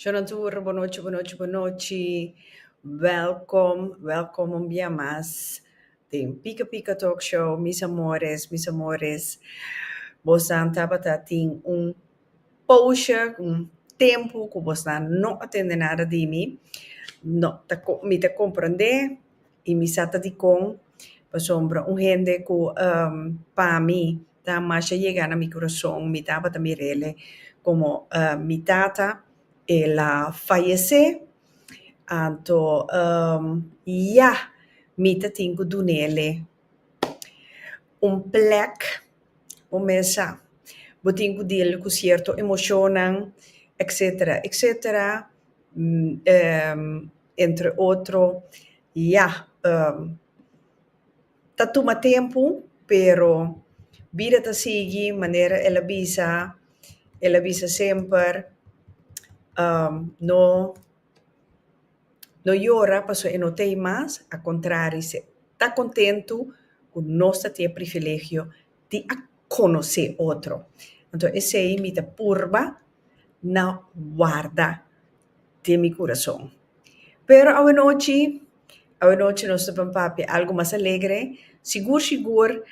Shonadhur, bo nochi, bo nochi, bo nochi. Welkom, welkom un bia mas den Pika Pika Talk Show, mis amores, mis amores. Bosnan tabata tin un poosha, un tempu ku bosnan no a tende nada di mi. No ta, mi ta komprende i mi sa ta dikon. Pasobra un hende ku, ehm, pami. Ta masha yega na mi curason, mi tabata mir'ele como mi tata el'a fayecé, anto ya mi ta tin cu dun'ele un plek bo mesa, bo tin cu dil cu cierto emocionnan, etcetera, etcetera, entre otro, ya. Ta tuma tempu pero bida ta sigui manera el a bisa, el a bisa semper uhmm no no yora pasobra e no tei mas, a contrari, ta contento cu nos ta tien privilegio. tin a conoce otro. Enton esey mi ta purba na warda den mi curason. Pero awanochi, awanochi nos ta bin papia algo mas alegre. Sigur sigur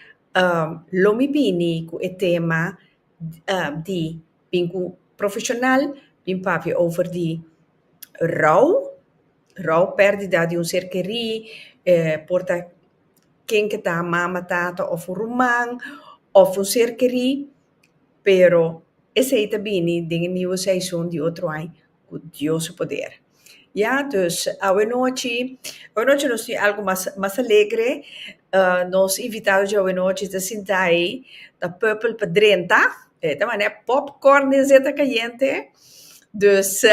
lo mi bini cu e tema di bin cu profesional bin papia over di rou, rou, perdida di un ser querí por ta. ken ku ta mama tata of un ruman of un ser keri pero esei ta bini den e niu season di otro ai ku dios su poder ya dus awenachi awenachi nos tin algu mas mas alegre nos invitado dje awenachi ta sinta ai ta purple pa drenta e ta manda popcorn den zeta cayente dus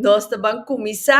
nos ta ban cuminsa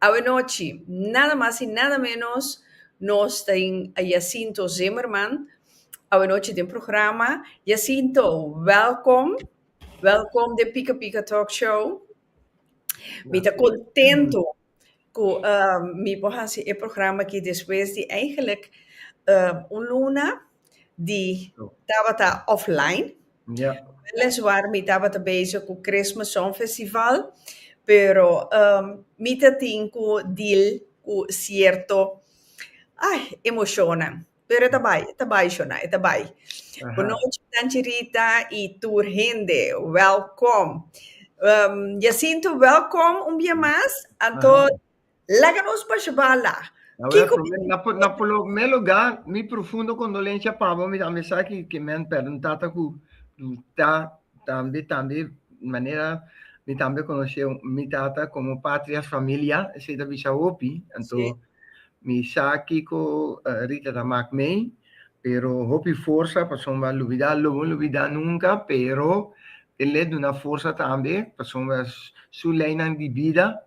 Awe nochi, nada mas y nada menos, nos ta tin a Jacinto Zimmerman awe nochi den programa. Jacinto, welkom! Welkom den Pika Pika Talk Show. Mi ta contento cu mi por hasi e programa aki despues di, eigenlijk, un luna. di tabata offline. Ja. Weliswaar mi tabata bezig cu Christmas Song Festival, pero ehm mi ta tin cu deal cu cierto ai emocionnan. Pero e ta bai, e ta bai, shona, e ta bai. Aha. Bunochi Tanchirita y tur hende, welkom. Ehm Jacinto, welkom un bia mas. Anto. Laga nos pa Jehová la. Kiko mi tin ku Na polo mé lugá, mi profundo kondolensia pa bo, mi tambe sa ki ke men pèrdè un tata ku ta tambe tambe manera mi tambe konosé mi tata komo patria es familia, esei ta bisha hopi. Anto mi sa kiko Rita ta mak mei, pero hopi forsa pasobra a lubidá, lo bo lubidá nunka, pero e le duna forsa tambe pasobra su leinan di bida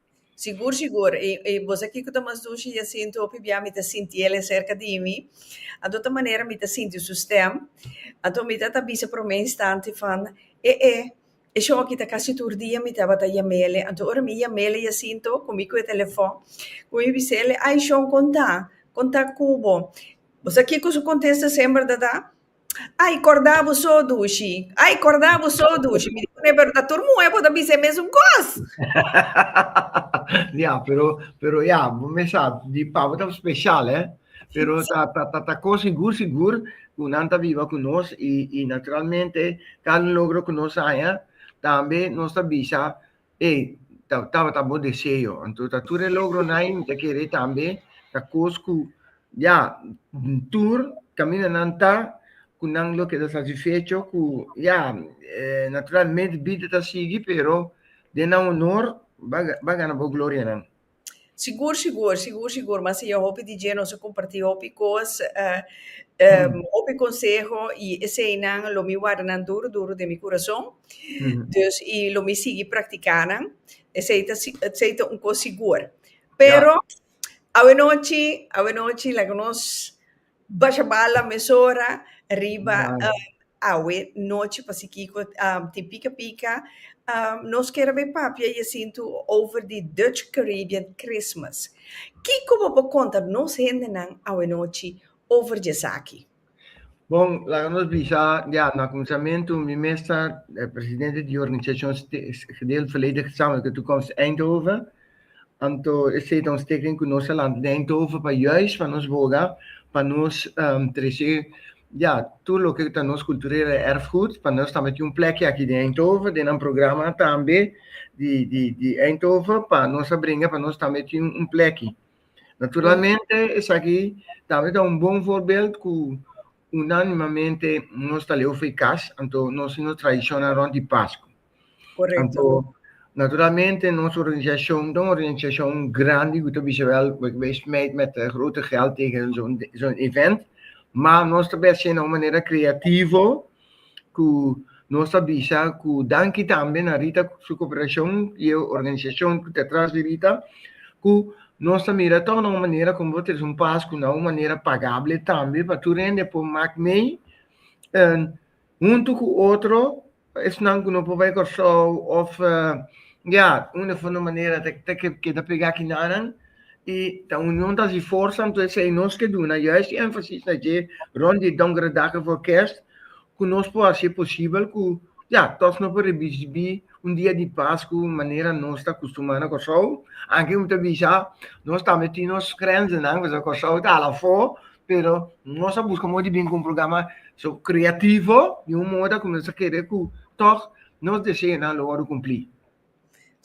Sigur, sigur. I, i bos aki cu ta mas dushi ya sinti hopi bia mi ta sinti el e cerca di mi. Anto ta manera mi ta sinti su stem. Anto mi ta ta bisa prome instanti van, E e, e shon aki ta casi tur dia mi tabata yamele. Anto ora mi yamele ya sinto cu mi cu e telefon, cu mi bisele, Ay, shon, con ta? Con ta cu bo? Bos aki cu su contesta sember, dada? Ai, corda bo so, Dushi. Ai, corda bo so, Dushi. Mi di cun'e, pero ta tur muhe bo ta bisa e mesun cos. ya, pero, pero ya, bo mesa, di pa bo ta special, eh. Pero ta, ta, ta, ta con sigur, sigur, cu nan ta biba cu nos y, y naturalmente, cada logro cu nos haña, tambe nos ta bisa Ey, ta, tabata bo deseo. Anto ta tur e logronan, mi ta kere tambe, ta kos ku, ya, tur kamindanan ta, ku nan lo keda satisfecho ku, ya, eh, naturalmente bida ta sigui, pero den nan honor, bo a, bo a gana bo glorianan. Sigur sigur, sigur sigur, mas iya hopi di dje nos a kompartí hopi kos, hopi konseho i eseinan lo mi warda nan duru duru den mi kurason, dus i lo mi sigui praktiká nan, esei ta esei ta un kos sigur. Pero, awenochi, awenochi laga nos. Basha bala mesora riba awe nochi pa si kiko tin pika pika. Nos kere bay papia e asintu over di Dutch Caribbean Christmas. Kiko bo por konta nos hendenan awe nochi over di esaki? Bon, laga nos bisa di awe. Na kuminsamentu mi mes ta presidente di Organisashon Gedeeld Verleden Gezamenlijke Toekomst Eindhoven. Anto esei ta un steken ku nos a lanta den Eindhoven pa juis pa nos boga pa nos trese ya tur loke ta nos kulturel erfgoed pa nos tambe tin un plekki aki den Eindhoven den nan programa tambe di di di Eindhoven pa nos a bringa pa nos tambe tin un plekki. Naturalmente esaki tambe ta un bon voorbeeld ku unanimamente nos ta leu for e kas anto nos tin nos tradishonnan rònt di Paskua. Anto, naturalmente nos organisacion ta un organisacion grandi cu ta bisa wel bo ta bay smijt met grote geld tegen zo'n event, ma nos ta bèsje na un manera creativo cu nos ta bisa cu danki tambe na Rita su cooperacion y e organisacion cu ta atras di Rita cu nos ta mira tog na un manera como bo ta trece un pas cu na un manera pagable tambe pa tur hende por mak mee. huntu ku otro esnan ku no por bai Kòrsou òf ya unda for no manera ta keda pregá ki nanan i ta union ta hasi forsa anto esei nos ke duna juist énfasis na dje rònt di Donkerdagen vòr Kèrst ku nos por hasi posibel ku ya tòg no por ribibí un dia di pas ku manera nos ta kustumá na Kòrsou anke mi ta bisa nos tambe tin nos grenzenan pasobra Kòrsou ta hala afó. pero nos a busca modo di bin cu un programa so creativo di un moda cu nos a kere cu toch nos deseonan lo wordo cumpli.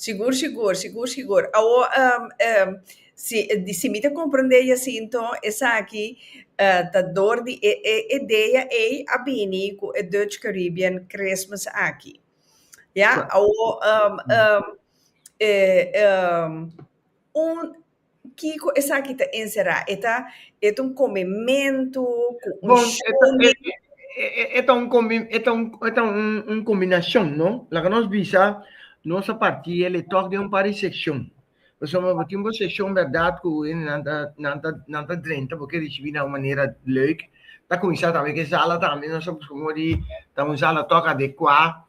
Sigur, sigur, sigur, sigur. Awor, um, um, si, di, si mi ta comprende Jacinto, esaki uh, ta door di e, e idea ei a bini cu e Dutch Caribbean Christmas aki. Ja, awor, um, um, eh, um, un, Kiko esaki ta enserá? E ta, e ta un komementu ku un Bon, e ta, e, shone. e, e, e ta un kombi, e ta un, e ta un, un kombinashon, no? Laga nos bisa, nos a partí el e tòg den un par di sekshon. Pasobra bo tin bo sekshon bèrdat ku hende nan ta, nan ta, nan ta drenta, bo ke risibí na un manera lèuk. Ta kuminsá tambe ku e sala tambe, nos a buska modo di ta un sala tòg adekuá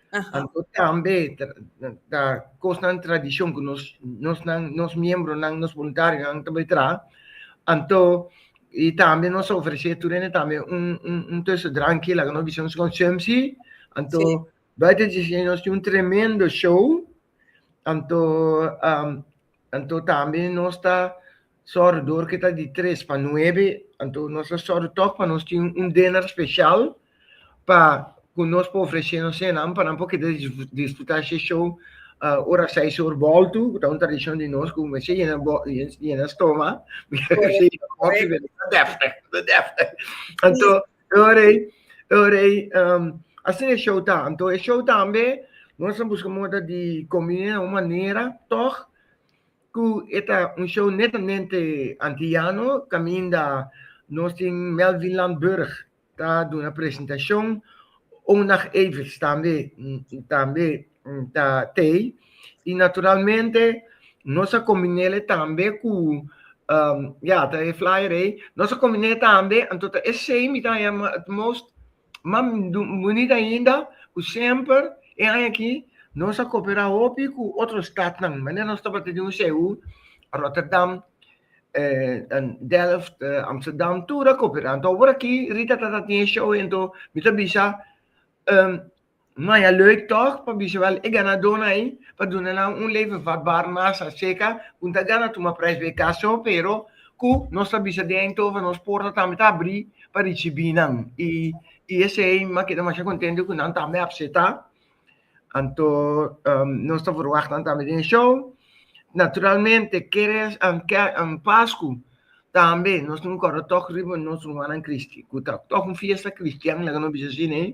Anto tambe ta kosnan tradishon ku nos nosnan nos miembronan nos boluntarionan ta bai traha anto i tambe nos ta ofresé tur hende tambe un un un tuesto dranki laga nos bisa nos konsumshi anto buiten di esaki nos tin un tremendo show anto Anto tambe nos ta sòru dor ke ta di tres pa nuebe, anto nos ta sòru tòg pa nos tin un dinner speshal pa ku nos por ofreshe nos senan pa nan por keda disfrutá she show ora seis or bòltu, ku ta un tradishon di nos ku mester yena yena stoma, mester yena kòfi, mester ta deftig, ta deftig. Anto. Oorei, oorei, um, asin e show ta. Anto e show tambe, nos a busca moda di combina un manera, toch, cu eta un show netamente antillano, caminda nos tin Melvin Landburg ta duna presentacion, Onag Evers tambe, tambe ta tei y naturalmente nos a combinele tambe cu ya ta e flyer ey nos a combine tambe anto ta e sey mi ta yama het most ma bonit ainda cu semper e aña aki nos a copera hopi cu otro stadnan manera nos tabata di un CU Rotterdam Delft Amsterdam tur a copera anto awor aki Rita ta tin e show ento mi ta bisa. Maya leuk tòg pa bisa wèl e ganadónan ei pa duna nan un leven vatbaar masa seka ku no ta gana tuma prijs bay kaso pero ku nos ta bisa den Eindhoven nos porta tambe ta abrí pa risibí nan i i esei mi a keda masha kontento ku nan tambe a apseta anto nos ta verwagt nan tambe den e show naturalmente keres Pasku tambe nos tin un kòrda tòg riba nos rumannan Kristi ku ta tòg un fiesta kristian laga nos bisa asina ei.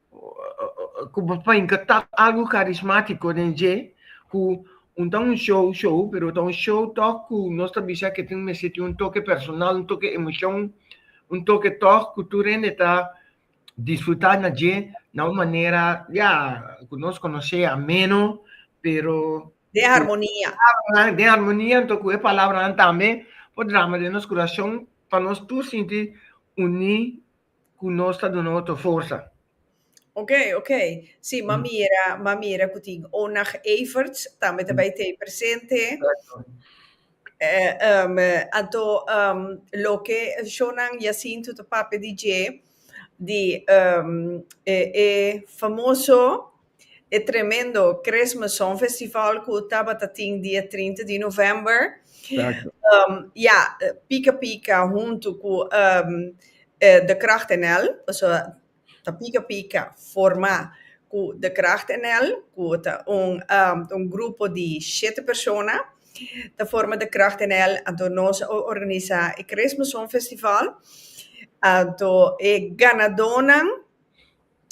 ku papá inka ta algu karismátiko den dje ku un ta un show show pero ta un show tòg ku nos ta bisa ku tin mester tin un toke personal un toke emoshon un toke tòg ku tur hende ta disfrutá na dje na un manera ya ku nos konos'é ameno pero den harmonia den harmonia anto ku e palabranan tambe por drama den nos kurashon pa nos tur sinti uní. ku nos ta duna otro forsa. Ok, ok. Sí, m'a mira, m'a mira ku tin Onag Everts tambe ta bai t'ei presente. Exacto. Eh, ehm, anto, ehm, loke shownan Jacinto ta papia di dje, di, ehm, e, e famoso E tremendo Christmas Song Festival cu tabata tin dia trinta di november. Exacto. Um, ja, Pika Pika huntu cu um, eh, De Kracht NL, also ta Pika Pika forma cu De Kracht NL, cu ta un, um, un grupo di shete persona, ta forma De Kracht NL, anto nos a organisa e Christmas Song Festival, anto e ganadonan,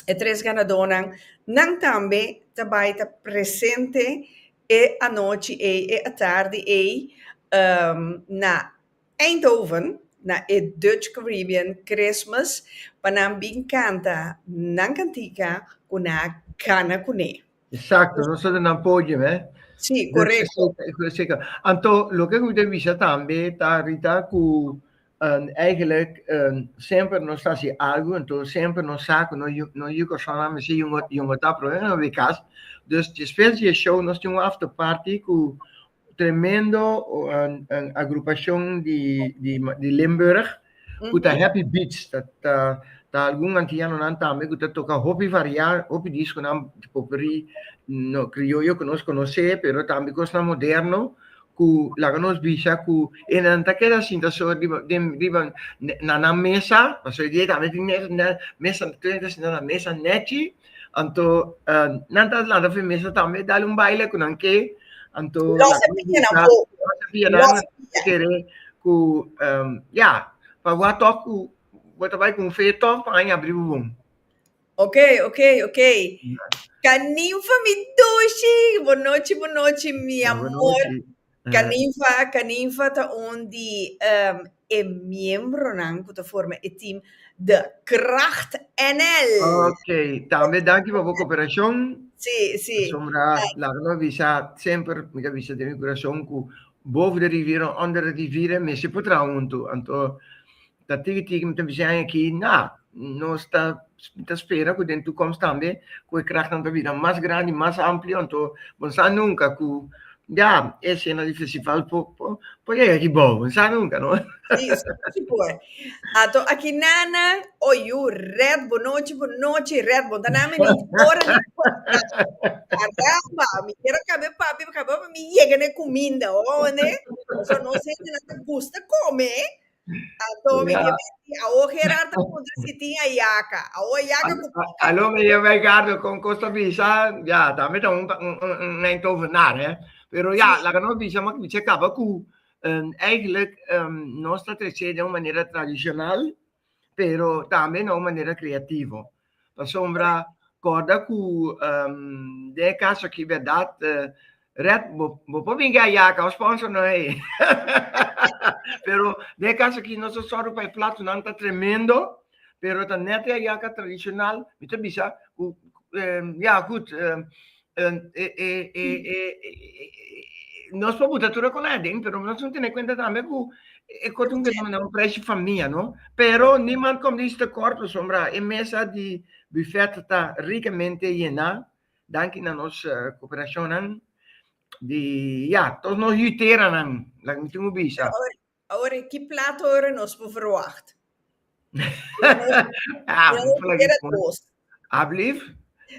E tres ganadónan nan tambe ta bai ta presente e anochi ei, e atardi ei, na Eindhoven, na e Dutch Caribbean Christmas, pa nan bin kanta nan kantica cu nan a gana cu ne. Exacto, nos a duna podium, eh. Sí, correcto. Anto, loke cu mi ta bisa tambe ta Rita cu Eigenlijk semper nos ta hasi algu, enton semper nos sa ku no no yu kòrsounan mester yu un yu un otá problema na wi kas. Dus despues di e show nos tin un after party ku tremendo agrupashon di di di Limburg ku ta Happy Beats. Ta ta ta algun antianonan tambe ku ta toka hopi variá, hopi diskonan, poperí, no krioyo ku nos konosé, pero tambe kosnan moderno ku laga nos bisa ku e nan ta keda sinta so riba den riba na nan mesa, pasobra e di ei tambe tin mesa na mesa tur hende ta sinta na mesa nèchi, anto nan ta lanta for e mesa tambe dal un baile ku nan ke anto Los e pianan po Los e pianan nan ta kere ku ya pa bo a tok ku bo ta bai ku un fe tòg pa nan a abri bo bon. Ok, ok, ok. Caninfa, mi doshi. Bonochi, bonochi, mi amor. Caninfa, Caninfa ta un di um, e miembronan cu ta forma e team The Kracht NL. Ok, tambe danki pa bo cooperacion. Sí, sí. Asombra, laga nos bisa, semper mi ta bisa den mi curacion cu boven de riviera, onder de riviera, mester por traha hunto. Anto, ta tigi tigi mi ta bisa ai aki na nos ta ta spera ku den tukomst tambe ku e krahnan ta bira mas grandi mas amplio anto bo no sa nunka ku ya e sena di festival por por por yega kibou bo no sa nunka no. Si si si por anto aki nana oi yu rèt bo nochi bo nochi rèt bo ta na mi ni ora ni caramba mi kier a kabe papi mi kier a kabe papi mi yega na e kuminda ho nde pasobra nos hende nan ta gusta kome Anto mi ke menti, awo Gerard ta puntra si tin a yaka. Awo a yaka ku poco. Alo mi yama e gardo kon kos ta bisa, ya ta mi ta un un ein tovenaar hè. Pero ya laga nos bisa man kimisha kaba ku eigenlijk nos ta trece den un manera tradishonal pero tambe na un manera kreativo. Pasobra kòrda ku den e kas akí bèrdat, Red, bo por bin gei yaka òf spònso no hei. Pero den e kas akí nos ta sòru pa e platonan ta tremendo, pero ta nèt yaka tradishonal. Mi ta bisa ku ya, gud, nos por buta tur e koná aden, pero nos tin tene kuenta tambe ku e kos tin kebra manera un preshi famia, no? Pero niman kòm di Sister Cor por sombra, e mesa di bufèt ta rikamente yená, danki na nos koperashonnan di, ya, todos nos yuteranan, laga mi tin ku bisa. Awor ki plato ora nos por verwagt? Alblief?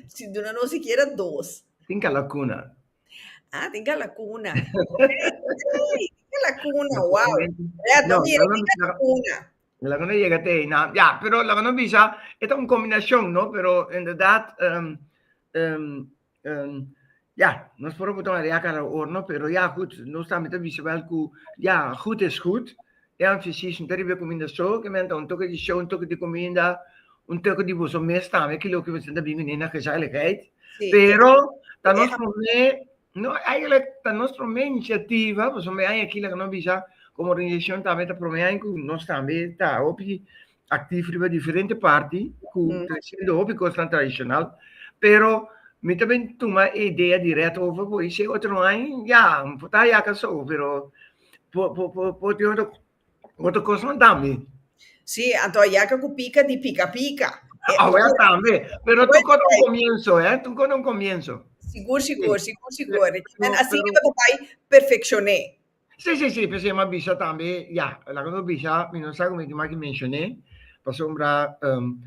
Si duna nos sikiera dos. Tin kalakuna. Ah, tin kalakuna. Ey, tin kalakuna, wow. Ya, ta mira, tin kalakuna. Laga no yega te ei nan. Ya, pero laga no bisa, e ta un kombinashon, no? Pero, inderdat, Um, ja, nos por botar een react aan de oorlog, pero ja, goed, nos también te wisse wel ku, ja, goed is goed. E aan fysisch no te ribe kominda so, ke men ta un toke di show, un toke di kominda, un toke di boso mes tambe, ke loke boso ta bini na gezelligheid. Sí. Pero, ta nos prome, no, eigenlijk, ta nos prome iniciativa, boso me aan aki, laka no bisa, como organisación también ta prome aan ku nos también ta hopi actief riba diferente parti cu ta haciendo hopi cosnan tradicional, pero mi ta bin tuma e idea di Red over bo y si e otro no hay, ya, mi por ta yaka so, pero por, por, por, por tin otro, otro cosnan tambe. Sí, anto a yaka cu pica di pica pica. Awe tambe, pero Awe tuco ta un tambe. comienzo, eh, tuco ta un comienzo. Sigur, sigur, Sí. sigur, sigur. Pero- Asina pero- bo ta bay perfeccioné. Sí, sí, sí, pero si me bisa tambe, ya, laga no bisa, mi no sa como di maki mencioné, pasobra um,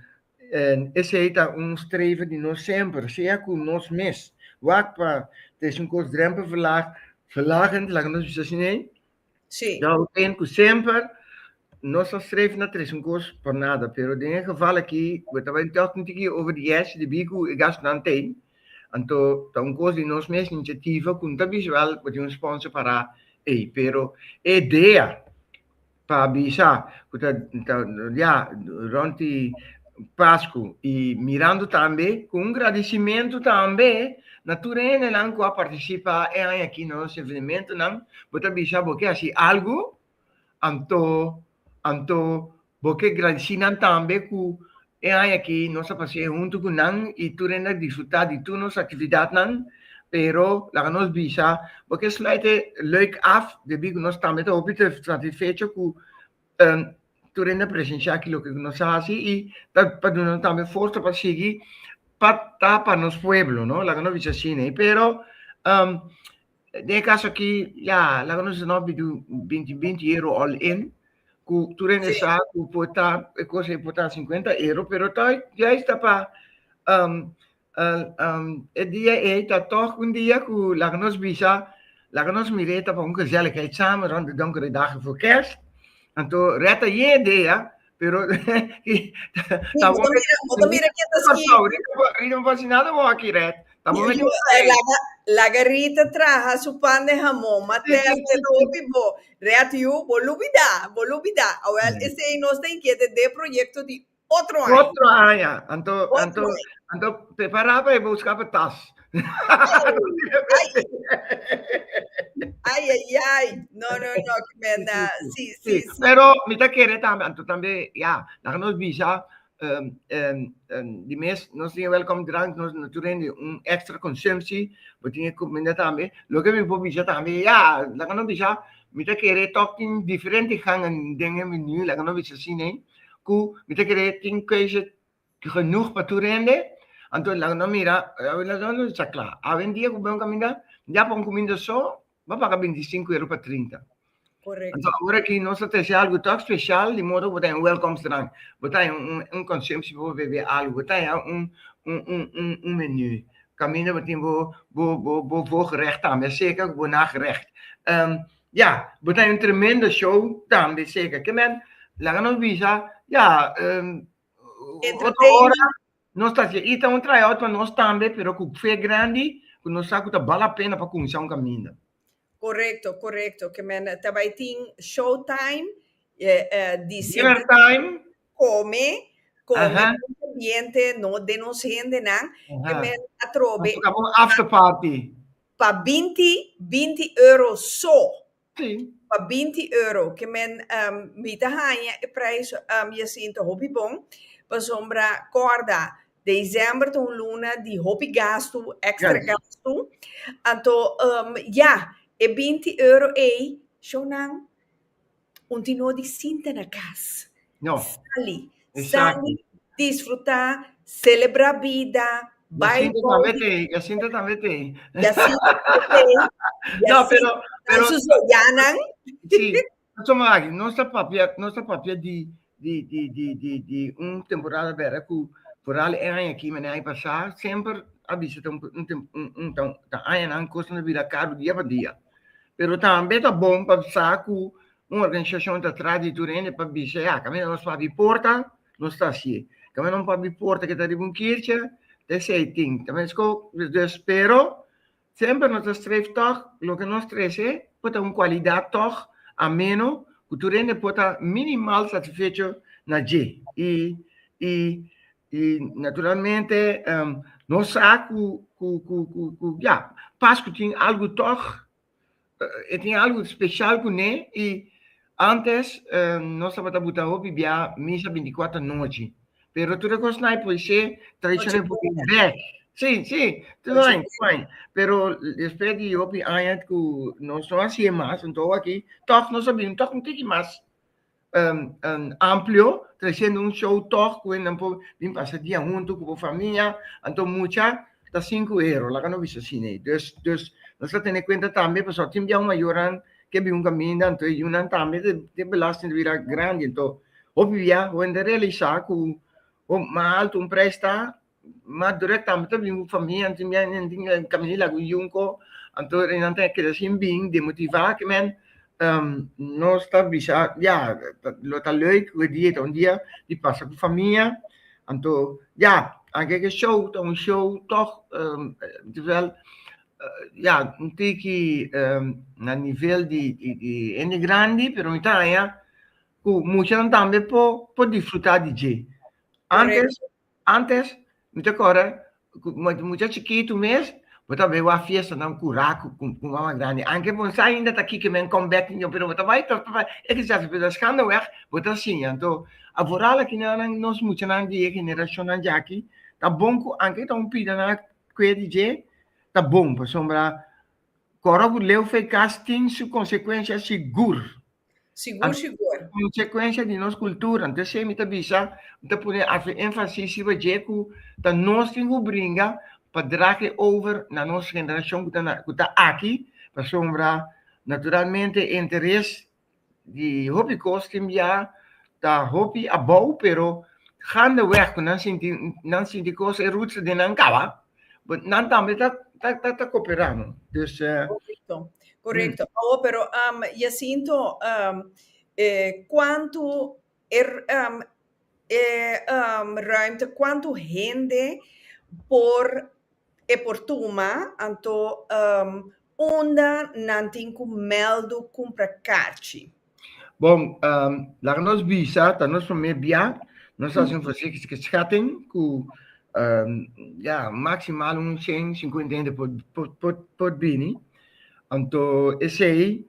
en esei ta un streven di nos semper, sea cu nos mes, wak pa des un kos drempel verlaag, verlagend, laga nos bisa sin ei, Sí, dat houdt in cu semper nos ta streven na tres un kos por nada, pero den e geval aki, we ta bay tog tin tiki over di yes, di bi cu e gastunan t'ei, Anto ta un cos di nos mes iniciativa cu no ta bisa wel bo tin un sponsor para ey pero e idea pa bisa cu ta ya rond di Pascu y mirando tambe cu un gradicimento tambe na tur hende nan cu a participa e aña aki na nos evenementonan bo ta bisa bo ke haci algo Anto, anto, bo ke gradisí nan tambe ku e aña aki nos a pas'é huntu ku nan i tur hende a disfrutá di tur nos aktividatnan. Pero laga nos bisa, bo ke sluit e lèuk af debí ku nos tambe ta hopi satisfecho ku tur hende a presensha aki loke ku nos a hasi i ta pa duna nos tambe forsa pa sigui pa ta pa nos pueblo, no? Laga nos bisa asina. Pero Den e kaso aki, ya, laga nos di no bini un binti binti euro all in, ku tur hende sa ku por ta e kos ei por ta sinkuenta euro, pero ta juist ta pa e dia ei ta tòg un dia ku laga nos bisa, laga nos mir'é ta pa un gezelligheid samen rònt di dònkere dagen for kèrst. Anto rèt ayé dea Pero ta bo ta mira ke ta ski. Rita no fasi nada bo aki red. Ta bo mete un Laga Rita traha su pan den hamon mat'el ta keda hopi bo. Red yu bo lubida bo lubida awel esei nos ta inkiet e de proyekto di otro aña. Otro aña anto anto anto prepara pa e buska pa tas. Ay, ay, ay, no, no, no, que verdad, sí, sí, sí. Pero mi ta quiere también, anto también, ya, dan nos visa, um, um, um, di mes, nos tiene welcome drank, nos no tiene un extra consumptie, we tiene comida también, lo que mi po visa también, ya, dan nos visa, mi ta quiere talking diferente gangen, dengen menu, dan nos visa cine, cu, mi ta quiere tin keuze, genoeg pa tur hende, anto nan lo mira, sa kla, awendia ku bo bon kaminda, ya pa un kuminda so, bo a paga bintisinku euro pa trinta. Anto ora ki nos ta trese algu tòg speshal, di modo ku bo ta en welkoms drank, bo ta en un konsumshi pa bo bebe algu, bo ta en un menú, kaminda bo tin bo voogrecht tambe, seka ku bo nagerecht. Ya, bo ta en un tremendo show tambe, seka. Kinder, laga nos bisa, ya. Otro ora nos ta hasié ita un tryout pa nos tambe, pero ku fe grandi ku nos sa ku ta bal a pena pa kuminsá un kaminda. Korekto, korekto, ke men ta bai tin show time, di siempre Dinner time. kome, kome Aha. ku nos ambiente, no den nos hendenan, ke Aha. men a trobe Nos toka bon after party. pa binti, binti euro so, Tin. Pa binti euro ke men mi ta haña e prijs yasintu hopi bon pasobra kòrda desèmber ta un luna di hopi gastu, èkstra gastu, anto ya e binti euro ei shownan un tinó di sinta na kas. Sali, sali, disfrutá, selebrá bida, bai bòu. Jacinto tambe t'ei. Jacinto tambe t'ei. No, pero, pero. Su soyanan. Sí, paso mo aki, nos ta papia, nos ta papia di, di, di, di, di, di un temporada bèra ku foral e aña aki, mane aña pasá, semper a bisa ta un, ta añanan kos ta bira karu dia pa dia. Pero tambe ta bon pa sa ku Un organisashon ta tras di tur hende pa bisa, ya, kaminda nos por abi porta, nos ta hasié. Kaminda nos por abi porta ku ta riba un kirchi, ta esei tin. Ta meskó. Dus, pero, semper nos ta streef tòg loke nos trese por ta un kualidat tòg ameno ku tur hende por ta minimal satisfecho na dje. I, i, i naturalmente, nos sa ku, ku, ku, ku, ku, ya, pas ku tin algu tòg e tin algu special cu ne y antes nos tabata buta hopi bia misa binticuater anochi pero tur e cos na por se tradicion e por bek si si tur aña tur aña pero despues di hopi aña cu nos no a haci'e mas anto awakiy toch nos a bini toch un tiki mas. amplio trayendo un show tog cu nan por bin pasa dia hunto cu bo famia anto mucha ta sinku ero laga no bisa asina ey dus dus nos ta tene cuenta tambe pasobra tin biaha mayornan ke bin un caminda anto e yunan tambe e belasting ta bira grandi anto hopi biaha hende realisa cu ho mas alto un prijs ta Mas durek tambe ta bin ku famia anto mi a nenti nan kami di Lago Yunko anto nan ta keda sin bin demotivá ke men nos ta bisa ya lo ta lèuk we dia ta un dia di pasa ku famia anto ya anke ke show ta un show tòg terwijl ya un tiki na nivel di hende grandi pero mi ta haña ku muchanan tambe por disfrutá di dje antes Antes mi ta kòrda ku mucha chikitu mes bo ta bai wak fiestanan kurá ku mama grandi aunke bo no sa ainda ta kiko men kòmbèk niño pero bo ta bai tòg ta bai e ke chas pero skando wèg bo ta siña anto a voral aki nan nan nos muchanan di e generashonnan dje aki ta bon ku aunke ta un pida nan a kue di dje ta bon pasobra kòrda ku leu fei kas tin su konsekuensia sigur Sigur sigur. Consecuencia di nos cultura. Enton esey mi ta bisa, mi ta pone harto enfasis riba dje cu ta nos tin cu bringa pa dragen over na nos generacion cu ta na, cu ta aki, pasobra naturalmente e interes di hopi cos tin bia ta hopi abou, pero gaandeweg cu nan sinti, nan sinti cos e roots den nan caba. But nan tambe ta, ta, ta, ta cooperá, no? Dus... eh, Correcto, correcto. Oh, pero um, Jacinto, um, eh, cuánto er, um, eh, um, ruimte, cuánto hende por e por tuma, anto um, Unda nan tin cu meldu cumpra carchi? Bon, laga nos bisa, ta nos prome bia, nos haci un forsiktige schatting cu ja, maximal un cien cincuenta hende por bini. Anto esey.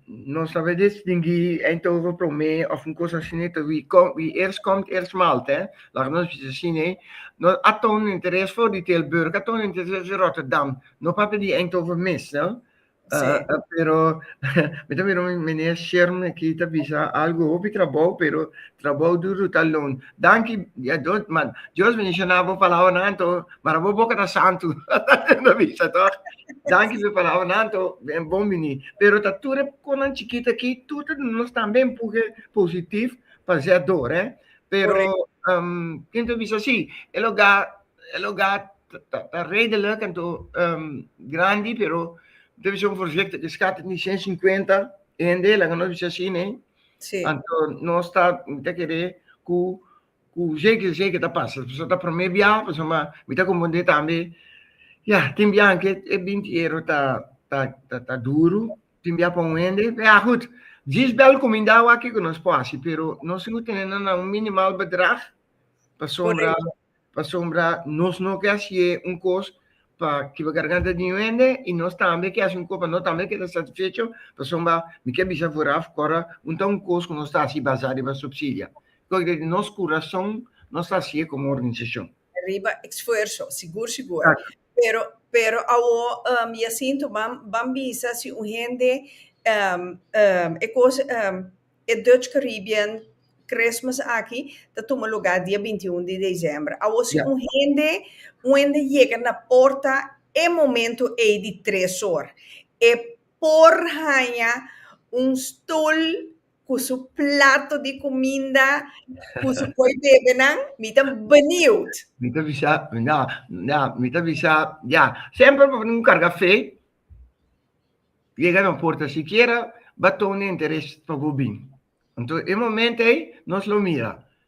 Nos ta bes distingui ein toru prome of un cos asine ta wie com wie eerst komt eerst maalt he. Laga nos bisa si nee. Nos a tonen interes for di Tilburg, a tonen interes di Rotterdam. No papia di ein toru mes no. Sí. Pero mi ta mira un meneer Sherm aki ta bisa algo hopi trabou pero trabou duru ta loon. Danki dia dos ma Dios bendiciona bo palabranan to mara bo boca ta santu ta bisa toch. Danki su palabra nanto, ben bon bini. Pero ta tur konan chikita ki tur ta nos tambe empuje positief pa zé dor, eh. Pero um, kinto bisa si, el oga el oga ta, ta redelijk en to um, grandi, pero te bisa un voorzichtig ke skat ni 150 ende, laga nos bisa si, nee. Sí. Anto nos ta te kere ku Cu zeker zeker ta pasa. Pasobra ta prome biaha, pasobra mi ta comprende tambe, ya, tin biahan cu e binti euro ta, ta, ta, ta duru, tin biaha pa un hende, ya gud, djis bel cuminda awa kico nos por haci, pero nos lo tene na un minimal bedrag, pasobra, pasobra nos no ke hacié un cos pa kiba garganta di un hende y nos tambe ke haci un cos pa nos tambe keda satisfecho, pasobra mi ke bisa vooraf, ora un ta un cos cu nos ta haci basa riba subsidia. Lo den nos kurason nos ta hasié kon organisashon. Riba eksfuerso, sigur sigur. Pero, pero awor, um, Jacinto, ban, ban bisa si un hende, um, um, e kos, um, e Dutch Caribbean Christmas aki ta tuma lugá dia binti un di desèmber. Awor si un hende, un hende yega na porta e momento ei di tres or, e por haña un stol. cu su plato di cuminda cu su coi bebenan, mi ta benieuwd. Mi ta bisa, ya, ya, mi ta bisa, ya, semper pa un carga fe, yega no porta, sikiera ba toon interes pa bo bin. Enton e momento ey nos lo mira,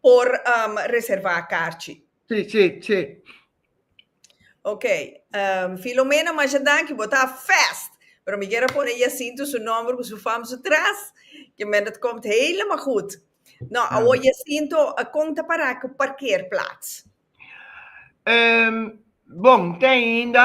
por reservá karchi. Sí, sí, sí. Ok, Filomena masha danki, bo ta fast! Pero mi ker a pone Jacinto su nòmber ku su fam su tras, ke men dat kòmt helemaal gud. Nò, awor Jacinto, kon ta pará ku parkeerplaats? Bon, t'ainda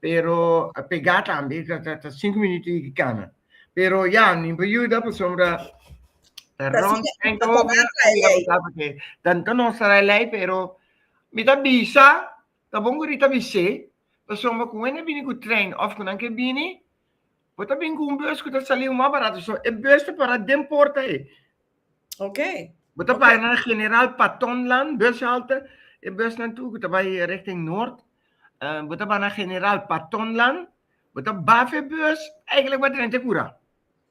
pero a pega tambe ta ta ta cinco minuto y ki cana pero ya nin pa yuda por sombra ta ron en ta porque dan ta no sara lei pero mi ta bisa ta bon guri ta bise por sombra ku wene bini ku train of ku nan ke bini Bo ta bin ku un bus ku ta saliu mas barato, so e bus ta para den porta ei. Ok. Bo ta para na General Patonland bus halte, e busnan tur ku ta bai richting Noord, eh, bo ta bai na General Patonland, bo ta baf e bus, eigenlijk bo a drenta e kura.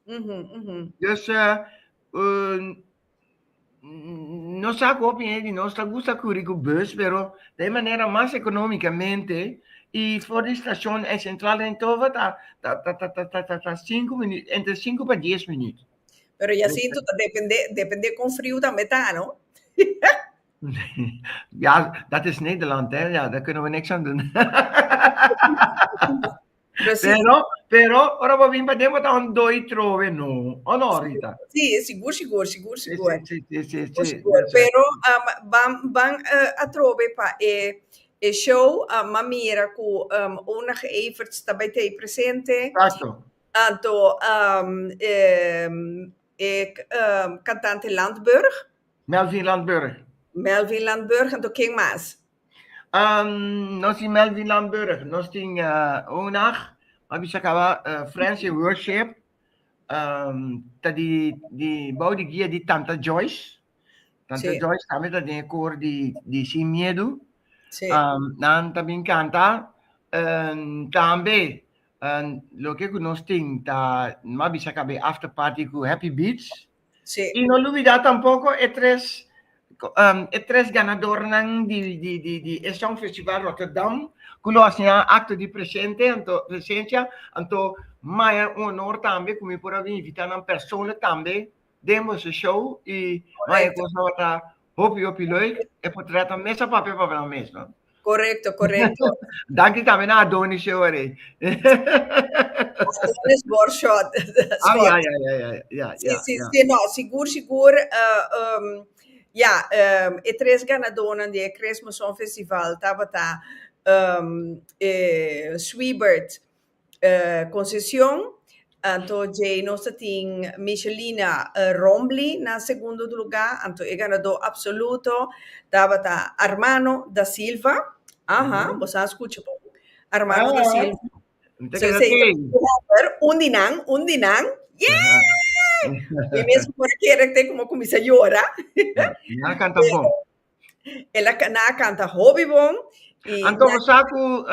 Mhm, mhm. Dus, eh, nos sa cu hopi hende di nos ta gusta curi cu bus, pero ta e manera mas economicamente, y for di stacion e central den Towa ta ta sinku minuut, entre sinku pa dies minuut. Pero Jacinto, ta depende, depende con friu tambe ta, no? Ja, dat is Nederland, hè, ja, daar kunnen we niks aan doen. Precies. Pero, pero, ora bo bin pa den, bo ta un doi trove, no. O no, Rita? Sí, sigur, sigur, sigur, Sí, sigur. sí, sí, sí, sí, Sigur, sí. sigur. That's right. Pero um, ban, ban eh, a trove pa e, e show, um, ma mira cu um, Onag Everts ta bij tei presente. Exacto. Anto um, em, e k- um, cantante Landburg, Melvin Landburg. Melvin Landburg, anto ken mas? Um, nos in Melvin Lamburg, nos tin uh, un nacht, maar bisa acaba uh, Friends in Worship, um, ta di, di, bouw di guia di Tanta Joyce, Tanta Sí. Joyce también ta den koor di, di Sin Miedo, Sí. um, nan también canta, um, también, um, lo que ku nos tin, ta, ma bisa acaba after party ku Happy Beats, Sí. Y no lubida tampoco e tres um e tres ganadornan di di di di e Songfestival Rotterdam cu lo hacinan acto di presente anto presencia anto maya un honor tambe cu mi por a bin invita nan persoonlijk tambe den boso show y maya cos tabata Hopi hopi loy e por trata un mesa papia pa habla un mes, no? Correcto, correcto. Danki también a Adonis show ahí. Adonis Borshot. Ah, ya, ya, ya, ya, ya. Sí, sí, sí, no, sigur, sigur. Ja, e tres ganadónan di e Cresmo Song Festival tabata Sweebert, konsesion, anto djei nos ta tin Michelina Rombly na segundo luga, anto e ganadó apsoluto tabata Armano Da Silva, aha, bo sa skucha bon, Armano Da Silva, un di nan, un di nan, yeah! Mi mes ku por a kere te ku mi a kuminsá yora. El a cana a canta hopi bon. A conversa cu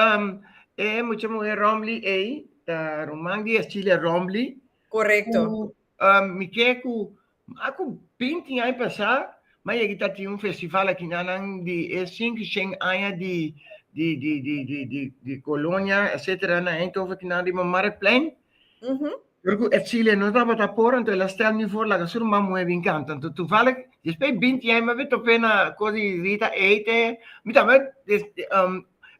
e mucha muher Rombly ey, ta ruman di Ercilia Rombly. Correcto. Cu mi ke cu mas cu binti aña pasa mi a yega ta tin un festival aki na nan di e sinki shen aña di di colonia etcetera na Eindhoven aki na riba Marktplein. Tur cu e chileno tabata por, anto el a stel mi for laga su rman muhe bin canta. Anto tuvalig, despues di binti aña mi a bin top'é na cos di Rita a ete. Mi tambe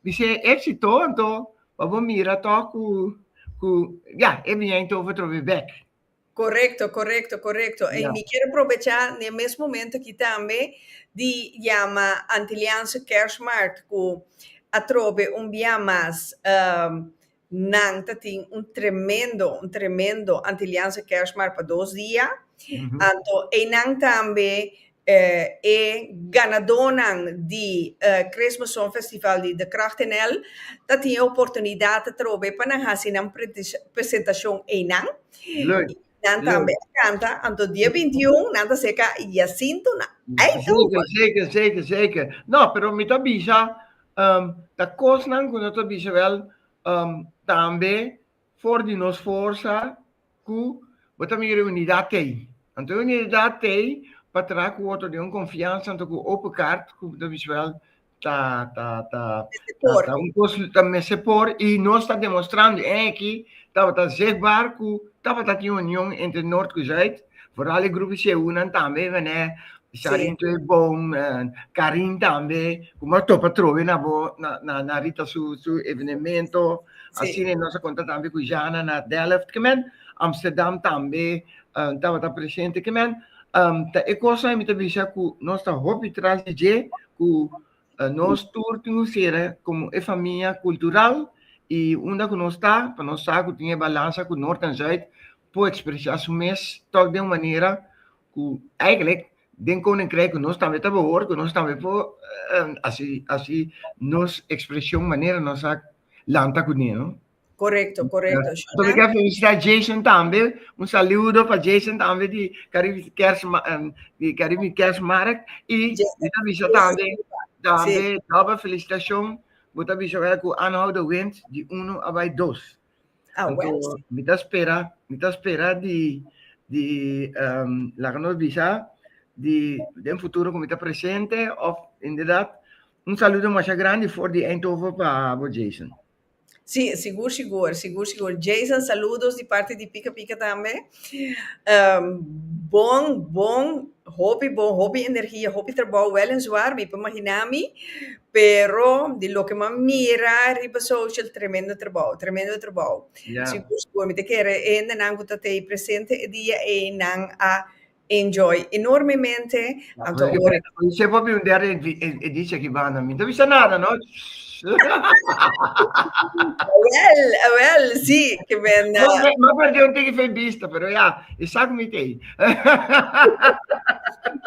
mi ser exito, anto pa bo mira toch cu, cu, ya, e bin a int'over otro bes bek. Corecto, corecto, corecto. Y mi quier aprobecha n'e mes momento aki tambe di yama Antiliaanse Kerstmarkt, cu atrobe un bia mas Nan ta tin un tremendo, un tremendo Antiliaanse Kerstmarkt pa dos dia. Anto einan tambe e ganadonan di e Christmas Song Festival di De Kracht NL ta tin e oportunidat ta trobe pa nan hasi nan presentashon einan. Nan tambe a kanta, anto dia binti un nan ta seka Yasinto na Eikel. Seker, seker, seker, seker. No, pero mi ta bisa um ta kosnan ku no ta bisa wel um tambe for di nos forsa ku bo ta mira e unidat tei. Anto e unidat tei pa traha ku otro den un konfiansa anto ku open kart ku bo ta bisa wel ta ta ta ta un kos ta mester por i nos ta demostrando e aki tabata zichtbaar ku tabata tin union entre nort ku zuid Vooral e grupo Jehunan tambe, mene, Sharin sí. Boom, uh, eh, Karin tambe, como a topa trove na bo, na, na, na Rita su, su evenemento, sí. así ne nos conta tambe cu Jana na Delft, que men, Amsterdam tambe, uh, eh, tabata presente, que men, um, ta e cosa mi te bisa cu nos ta hopi tras de je, cu Nos tur tin un sera komo e famia kultural i unda ku nos ta, pa nos sa ku tin e balansa ku Nort en Zuid por ekspresá su mes tòg den un manera ku eigelik den Koninkrijk ku nos tambe ta behoort ku nos tambe por hasi nos ekspreshon manera nos a lanta kuné. Correcto, correcto. So mi quiero felicitar Jason también. Un saludo para Jason también de Caribe Kers, eh, de Caribe Kersmark. Y yo aviso también, también, doble felicitación. Yo aviso que con Anhoud de Wins de 1 a 2. Ah, bueno. Mi ta espera, mi ta espera de, de um, la que nos visa, de, de un futuro que mi ta presente, of inderdaad, un saludo más grande voor die Eindhoven para Jason. Sí, sigur sigur, sigur sigur. Jason, saludos di parti di Pika Pika tambe. Ehm, bon, bon, hopi bon, hopi energia, hopi trabou, wel en zwaar, mi por imaginá mi, pero di loke mi a mira riba social, tremendo trabou, tremendo trabou. Ya. Sigur sigur, mi ta kere hendenan ku ta tei presente e dia ei, nan a Enjoy enormemente anto ora. Oye se papi un der e dice aki banda mi no ta bisa nada no. Awel awel si ke men. No me ma perde un tiki fe bista pero ya e sa ku mi tei.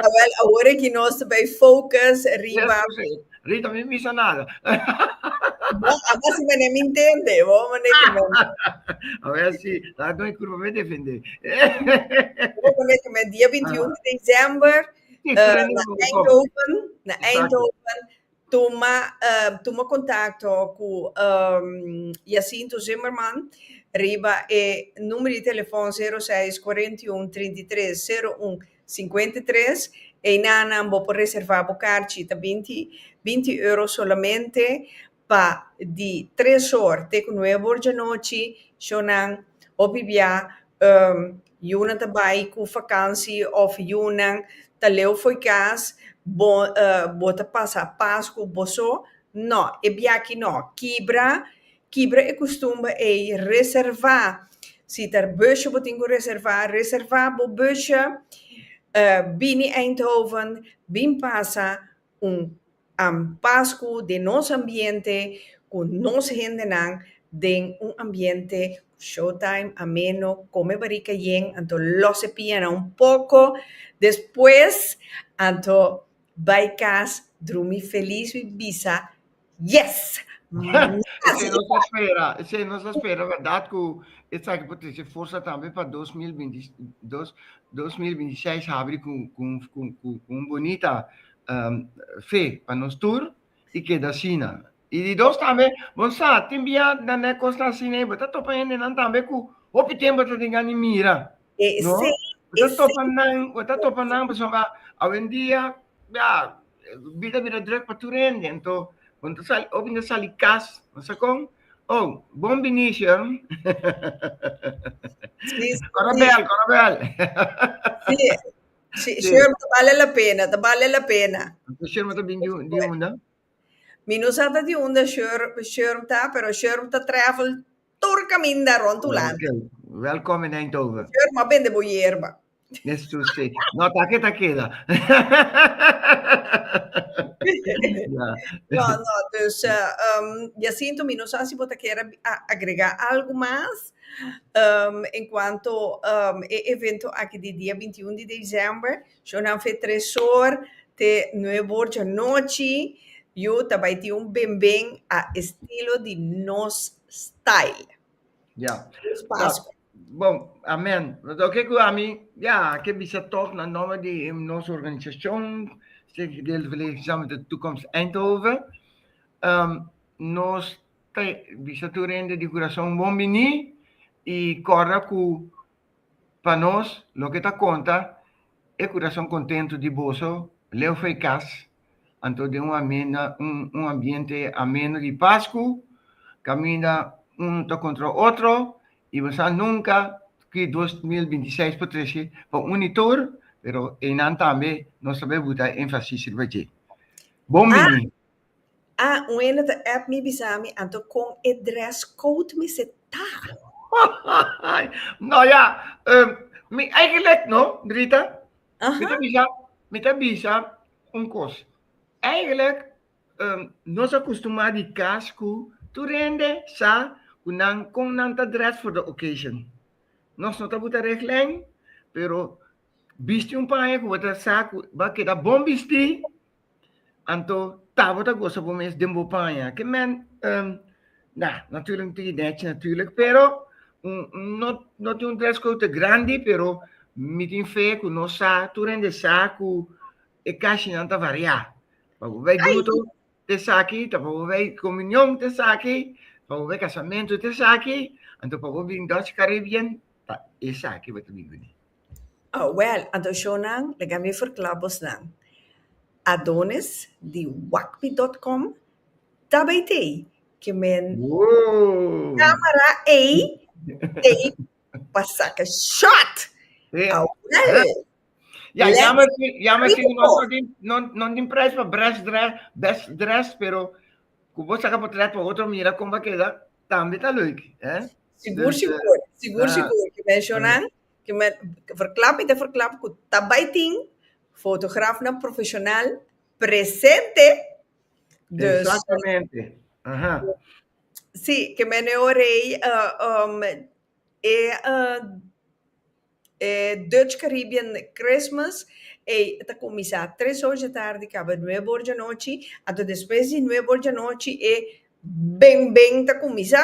Awel awor aki nos ta bay focus riba. Rita mi misa nada. no, ama si mene mi intende, bo mene ki men. a ver si, la no curva me defende. bo mene ki men, dia 21 de december, uh, na Eindhoven, na Eindhoven, toma, uh, toma contacto cu um, Jacinto Zimmerman, riba e numero de telefoon 06 41 33 01 Sinkuenta i tres, Einanan bo por reservá bo karchi, ta binti binti euro solamente pa di tres or te ku nuebe or djanochi, shownan, hopi bia yunan ta bai ku fakansi òf yunan ta leu for kas, bo bo ta pasa Pasku bo so, nò, e biachi nò, kibra Kibra e kustumber ei, reservá. Si ta bòsje bo tin ku reservá, reservá bo bòsje. Bini Eindhoven, bin pasa un Pasku den nos ambiente, ku nos hendenan, den un ambiente showtime, ameno, kome barika yen. Anto lòs e pianan un poko, despues anto bai kas drumi felis, wi bisa. Yes! Esei nos a spera, esei nos a spera berdad cu esaki por trece forsa tambe pa dos mil binti dos, dos mil binti seis habri cu cu cu cu cu un bunita fe pa nos tur y keda asina. Y di dos tambe bo sa tin bia nan na e cosnan asina y bo ta topa hendenan tambe cu hopi tempo bo ta tin gana di mira, no? Esei, Bo ta esei. topa nan, bo ta topa nan pasobra awendia bia Bida bira druk pa tur hende. Anto, bo no ta sali, obi no ta sali kas. Bo sa kon? Oh, bon binicio. Sí, sí. Kora bel, kora bel. Sí. Sí, Sí. Sherma, ta bale la pena, ta bale la pena. Anto, Sherma ta bin di, un- di unda? Mi no sa ta di unda Sher- Sherm ta, pero Sherm ta travel tur kaminda rond Hulanda. Ok. Welkom in Eindhoven. Sherm, a bende bo yerba. Yes, to say. No, take ta keda. yeah. No, no, dus uh, um, Jacinto, mi no sa si bota kera agrega algo mas um, en cuanto um, e evento aquí di dia 21 de diciembre, yo nan fe tresor te nuevo borja noche, yo tabai ti un benben a estilo di nos style. Ya. Bon, amèn. Lo ke ku ami, ya, a ke bisa tòg na nòmber di nos organisashon, Stichting Gedeelde Verlichting Samen met de Toekomst Eindhoven. Nos ta bisa tur hende di Kurason bon biní i kòrda ku pa nos loke ta konta e kurason kontentu di boso Leo Freikas. Anto den un ambiente ameno di pas ku kaminda unu ta kontra otro i bo sa nunka ki dos mil binti seis por trese pa uni tur, pero einan tambe nos ta bai buta énfasis riba dje. Bon bini! A Un hende ta app mi bisa mi anto kon e dress code mester ta. Hahaha! No ya, mi eigen lek no, Drita. Mi ta bisa, mi ta bisa un kos. Eigenlijk, um, nos a kustumá di kas ku tur hende sa ku nan kon nan ta dress for the occasion. Nos no ta buta reglen, pero bisti un paña ku bo ta sa ku bo a keda bon bistí Anto, ta bo ta gosa bo mes den bo paña? Ke mèn, um, na, natùrlik no tin idea chi natùrlik, pero un, un, no, no tin un dress code te grandi, pero mi tin fe ku nos sa, tur hende sa ku e kashinan ta variá. Pa bo bai bruto, ta esaki, ta pa bo bai komunion, ta esaki, pa bo bai kasamentu, ta esaki, anto pa bo bin Dutch Caribbean, ta esaki bo ta bin bini. Oh, wèl, adoshonnan, laga mi ferkla bos nan. Adonis di Wakmi dòt kòm ta bai tei ke men kámara ei tei pa saka shòt. Oh, wèl. Ya, yammer si, yammer si nos no tin, no, no tin prijs pa best dress, best dressed, pero ku bo saka potret pa otro mira kon bo a keda, tambe ta lüik, eh. Sigur, sigur. Sigur, sigur. Ku men shonnan, Verklap i ta verklap ku ta bai tin fotografnan profeshonal presente. Dus. Exactamente. Aha. Si, ke men e ora ei e e Dutch Caribbean Christmas ei ta kuminsá tres or dje tardi kaba nuebe or dje nochi, anto despues di nuebe or dje nochi e beng beng ta kuminsá.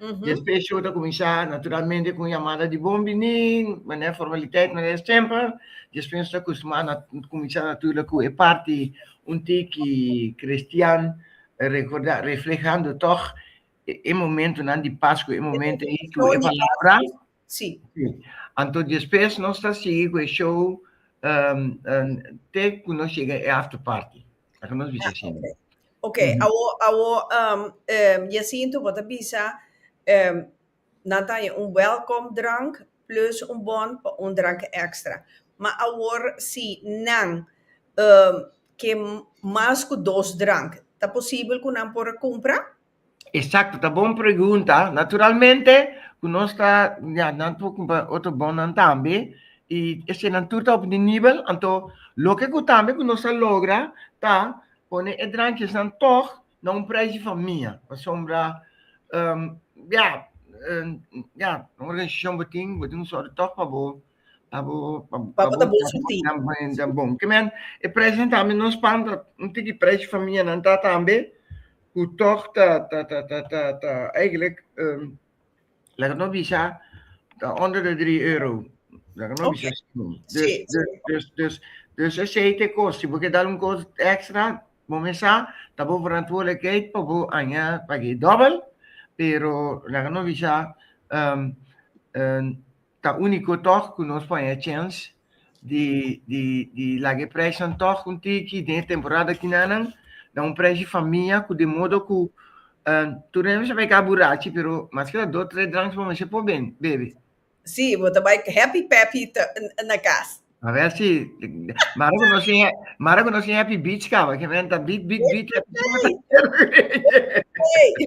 Despues show ta cuminsa naturalmente cu un yamada di bon bini, manera formaliteiten, manera stempel. Despues nos ta custuma na cuminsa naturlig cu e parti un tiki cristian recorda, reflehando toch e momentonan di pascu, e momento ei cu e palabra. Sí. Sí. Anto despues nos ta sigui cu e show um, um, te cu nos llega e after party. Aca nos bisa Ah, siempre. Ok, Mhm. awo, awo, um, um, Jacinto, bo ta bisa, um, nan ta haña un welcome drank plus un bon pa un drank extra. Ma awor si nan um, ke mas cu dos drank, ta posibel cu nan por a cumpra? Exacto, ta bon pregunta. Naturalmente cu nos ta, ya, nan por cumpa otro bonnan tambe. Y eseinan tur ta op e nivel, anto loke cu tambe cu nos ta logra ta pone e drankjesnan tog na un prijs di famia, pasobra, ya, ya, un organisacion bo tin, bo tin un sòru tog pa bo, pa bo, pa bo, pa bo ta bon sinti. Ta bon. Ke men, e prijsnan tambe nos panta un tiki prijs di famianan ta tambe. cu toch ta, ta, ta, ta, ta, ta eigenlijk, um, laat ik nog bisa, ta onder de 3 euro. Laat ik nog okay. bisa. Dus, sí. dus, dus, dus, dus aceite kost. Si boke dal un kost extra, momesa, ta bo verantwoordelijkheid pa bo anja pagi dubbel, pero laat ik nog bisa, um, um, Ta único tog cu nos por haña chens di di laga e preshnan tog un tiki den e temporada kinanan. Na un preshi famia cu di modo cu tur nan bisa bay caba burachi pero mas ke la dos tres dranks bo mester por bebe. Sí, bo ta bay happy peppy na cas. A ver si mara cu nos tin mara cu nos tin happy beach caba, ke nan ta beat beat beat happy caba ta. Ey!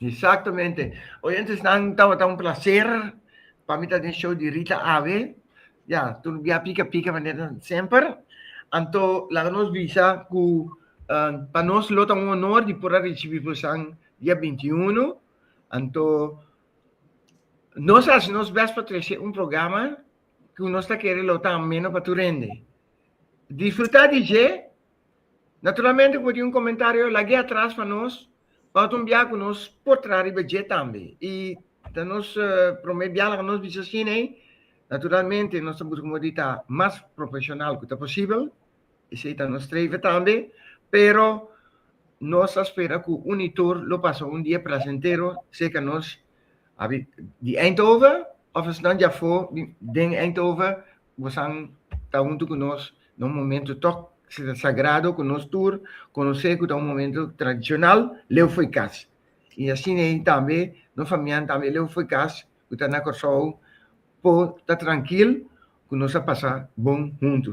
Exactamente. Oyentesnan, tabata un placer pa mi ta den show di Rita Ave. Ya, tur bia pica pica manera semper. Anto, laga nos bisa cu uh, pa nos lo ta un honor di por a recibi bosan dia 21. Anto, nos haci nos best pa trece un programa cu nos ta kere lo ta ameno pa tu rende. Disfruta DJ, Naturalmente ku bo tin un komentario lag'é atras pa nos oto un bia ku nos por traha riba dje tambe. I ta nos promé bia laga nos bisa asina ei. Naturalmente nos ta buska moda di ta mas profeshonal ku ta posibel, esei ta nos streve tambe, pero nos ta spera ku uni tur lo pasa un dia plasentero seka nos di Eindhoven òf esnan djafó den Eindhoven bosan ta huntu ku nos na un momentu tok sagrado ku nos tur konosé ku ta un momentu tradishonal, leu fo'i kas. I asin ei tambe nos famianan tambe leu fo'i kas ku ta na Kòrsou por ta trankil ku nos a pasa bon huntu.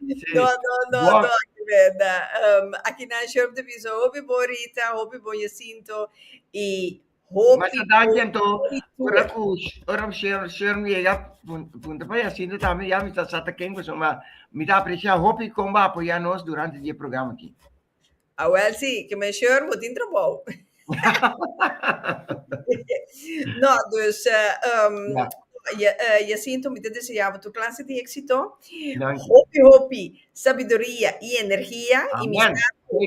No, no, no, no, aki benda. Um, aki na Sheriff de Viso, hopi bon Rita, hopi bon Jacinto, y hopi Mas a dan quien to, ora cu, ora cu Sharon, Sharon llega, punta pa Jacinto también, ya mi ta sata quien cosa, ma mi ta aprecia hopi comba apoya nos durante die programa aquí. Awel si, ke men sheur bo tin trabou. No, dus Jacinto mi ta deseá bo tur klase di éksito, hopi hopi sabiduria i energia i mi sa ku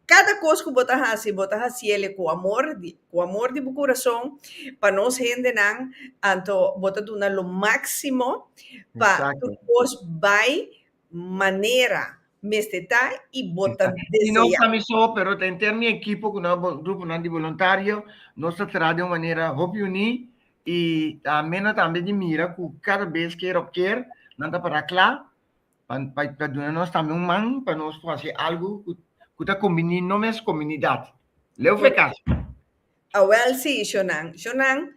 kada kos ku bo ta hasi bo ta hasiel ku amor, ku amor di bo kurason pa nos hendenan, anto bo ta duna lo máksimo pa tur kos bai manera mester ta y bo ta desea. Y no pa mi so, pero ta henter mi ekipo cu nan, gruponan di boluntario, nos ta traha den un manera hopi uní y ta amena tambe di mira cu cada bes keer op keer nan ta para cla pa pa duna nos tambe un man pa nos por haci algo cu ta combini no mes comunidad. Leu fe casi. Awel si, Sjonan. Sjonan,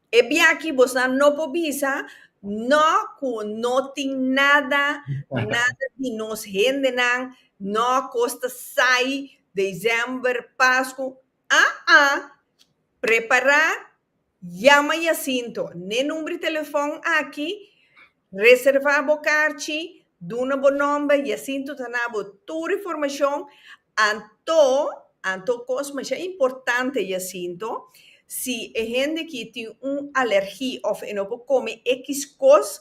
E biachi bosnan no por bisa no cu no tin nada, nada di nos hendenan, no cos ta sai December, Pascu, aa prepara, yama Jacinto n'e number di telefon aki, Reservá bo karchi, duna bo nòmber i asin tur ta na bo tur informashon. Anto, anto kos masha importante i asin to, si e hende ki tin un alergi òf e no por kome ekiz kos,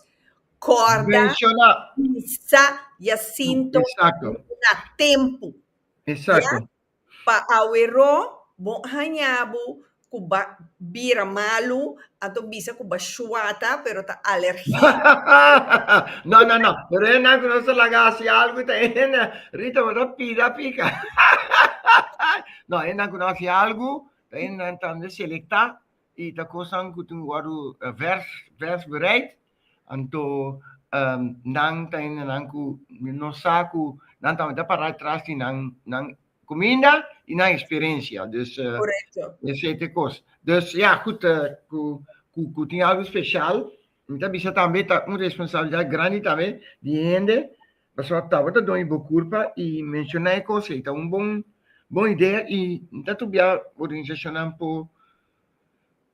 kòrda. Menshoná. Bisa i asin to. Eksakto. Duna tempu. Eksakto. Pa aweró bo haña bo ku ba bira malu, anto bisa ku ba shuata pero ta alergia. No no no, pero e nan ku nos ta laga hasi algu i ta hende, Rita bo ta pida a pika. No, e nan ku nos hasi algu ta hende nan tambe selektá i ta kosnan ku tin wòrdu vers vers bereid. Anto nan ta hende nan ku no sa ku nan ta mester para tras di nan nan kuminda i nan eksperensia. Dus esei ta e kos. Dus ya kut ku tin algu spesial mi ta bisa tambe ta un responsabilidat grandi tambe di e hende pasobra tabata done bo kurpa i menshoná e kos ei ta un bon bon idea i mi ta tubiá organisashonnan por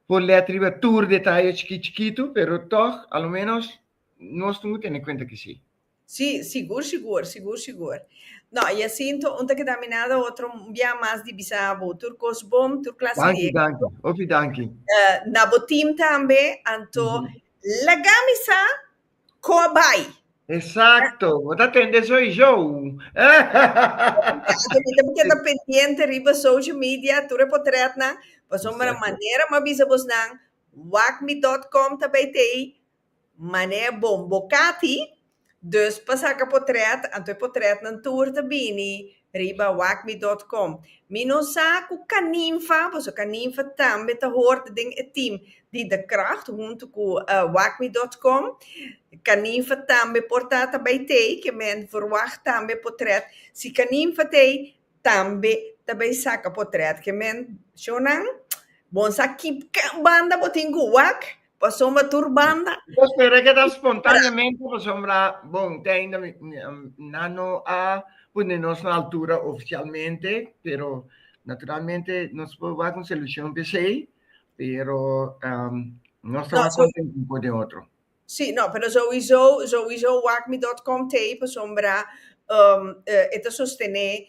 Por lei triba tur detaye chikit chikitu, pero tog a lo menos nos tin cu tene cuenta ki si. Si, sigur sigur, sigur sigur. No, y así ento un ta keda aminado, otro un biaha mas di bisa bo tur cos bon, tur clase di Danki, éxito. danki. Hopi danki. Na bo team tambe, anto laga mi sa. Con bay? Exacto, bo ta tende soy show. Yo mita porque ta pendiente riba social media, tur e portret nan, paso mara Exacto. manera ma bisa bos nan, wacme.com ta bay tey, mane bon bocati, dus pa saca portret, anto e portret nan tur ta bini Riba wacmi dot com. Mi no sa cu Caninfa, paso Caninfa tambe ta hoort den e team di The Craft hunto cu wacmi dot com. Caninfa tambe por ta ta bay tey, ke men verwacht tambe potret. Si Caninfa tey, tambe ta bay saca potret. Ke men show nan? Bon sa ki banda bo tin cu wac? Pasobra tur banda. Pues te rekeda spontaneamente pasobra bon te ainda nan no a pone nos na altura oficialmente pero naturalmente nos por wak un solucion pe esey pero nos ta mas contento un por den otro. Si no pero sowiso sowiso wak mi dot com tey pasobra e ta sostene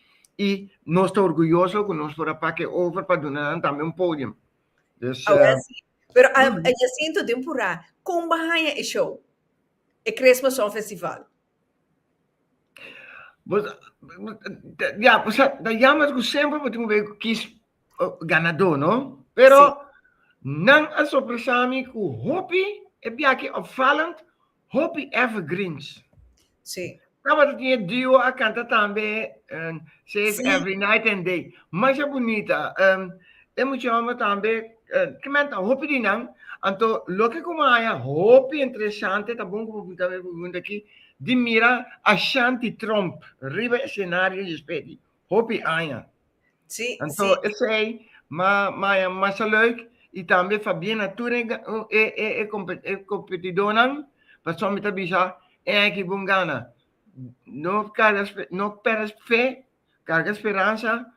y nos ta orguyoso cu nos por a pak e over pa duna nan tambe un podium. Dus. Awe a si. Pero a Jacinto den Pura con bo a haya e show? E Cresmo Song Festival. Bo ya bo sa ta jammer cu semper bo tin cu kis ganador no? Pero nan a sorpresa mi cu hopi e biachi opvallend Hopi evergreens. Sí. Tabata tiñe duo a canta tambe, um, se es sí. Every Night and Day. Masha bonita. Um, e mucha hombre tambe, uh, que menta hopi di nan, anto lo que como haya hopi interesante, ta bon como punta me pregunta aquí, di mira Ashanti Trump, riba escenario y spedi. hopi aña. Sí, Anto, sí. esei, ma, ma, ma sa leuk, i tambe fa bien na tur e, e, e, e, compe- e competidornan, pasobra mi ta bisa e aña ki bon gana. No carga, espe- no perde fe, carga speransa,